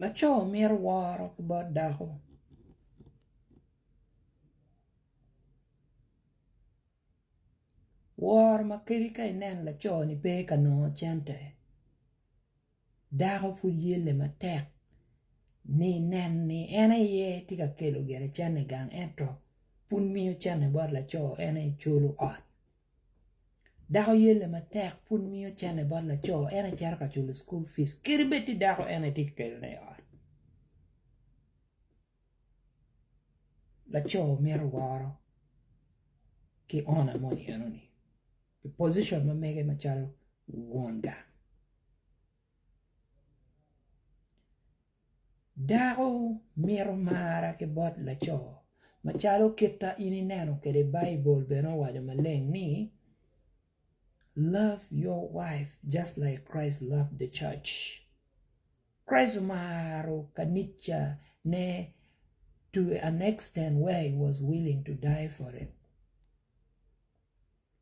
Laco mito woro ki bot dako. Woro ma kadi ka ineno laco ni pe ka nongo cente dako pud yelle matek ni nen ni en aye tye ka kelo gire cente i gang ento pud miyo cente bot laco en aye culo ot. Dako yelle matek pud miyo cente bot laco en aye cito ka culo cukul pic kadi bed tye dako en aye tye ka kelone i ot laco mito woro ki owner moni enoni i pocition ma mege macalo won gang Dako mito marra ki bot laco, macalo kit ma in ineno kwede Baibul bene owaco maleng ni, Love your wife just like Christ loved the church. Christ omaro kanicane to an extent where he was willing to die for it.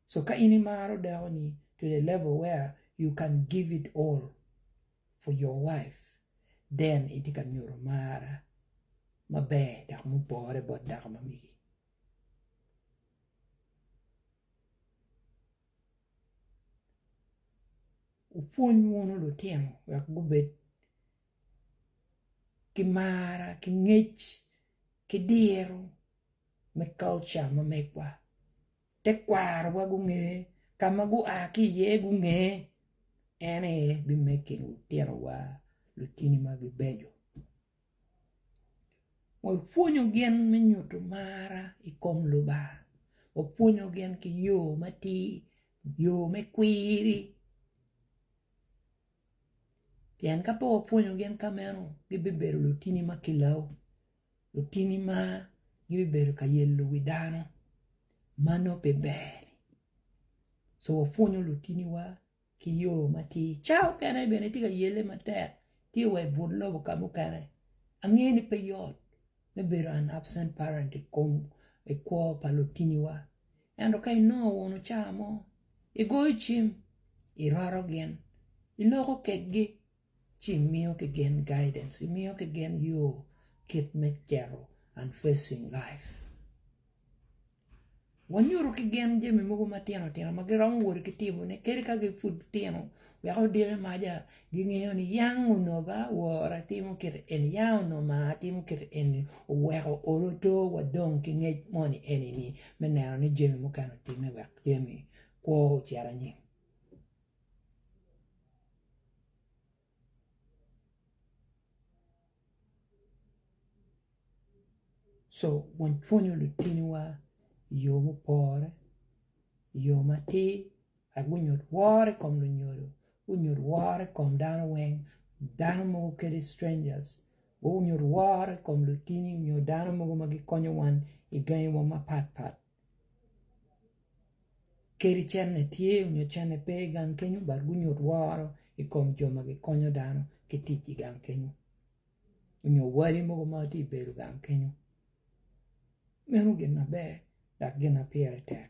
So ka in imaro dakoni to the level where you can give it all. for your wife then itye ka nyuto mar maber dok mupore bot dako ma megi. Wupwony wunu lutino wek gubed ki mar ki ngec ki diro me culture ma megwa Tekwarowa gunge, ka ma gua ki iye gunge, en aye bimeggi lutinowa, lutini ma gibeco. Wapwonyo gin me nyuto mar i kom Lubanga, wapwonyo gin ki yo matir, yo me kwiri, pien ka pe wapwonyo gin ka meno gibibedo lutini ma kilau. Lutini ma gibibedo ka yelo wi dano ma nongo pe ber. So wapwonyo lutiniwa ki yo matir. Cawa mukene bene itye ka yele matek, tye wa i but lobo ka mukene. Angeyo ni pe yot me bedo an absent parent i kom i kwo pa lutiniwa. Ento ka inongo unu cawa mo, igoyo cim, iroto gin, iloko kekgi. ci imiyo ki gin guidance, imiyo ki gin yo kit me cito and facing life. Wanyuto ki gin jami mogo matino tino ma giromo wot ki timone kadi ka gi pud tino wek odiki maja gingeyo ni yang onongo ba wora atimo kit eni, yang onongo ma atimo kit eni oweko olo to wa dong ki ngec moni eni ni me neno ni jami mukene otime wek jami kwo ocit anyim. Co wapwonyo lutiniwa i yo mupore i yo matir wek gunyut woro i kom lunyodo gunyut woro i kom dano weng dano mogo kadi strangers gunyut woro i kom lutini nyo dano mogo ma gikonyo wan i gangi wa mapatpat. Kadi cente tye nyo cente pe i gang kenyo dok gunyut woro i kom jo ma gikonyo dano ki tic i gang kenyo nyo wadi mogo ma tye ka bedo i gang kenyo meno gin maber dok gin ma pire tek.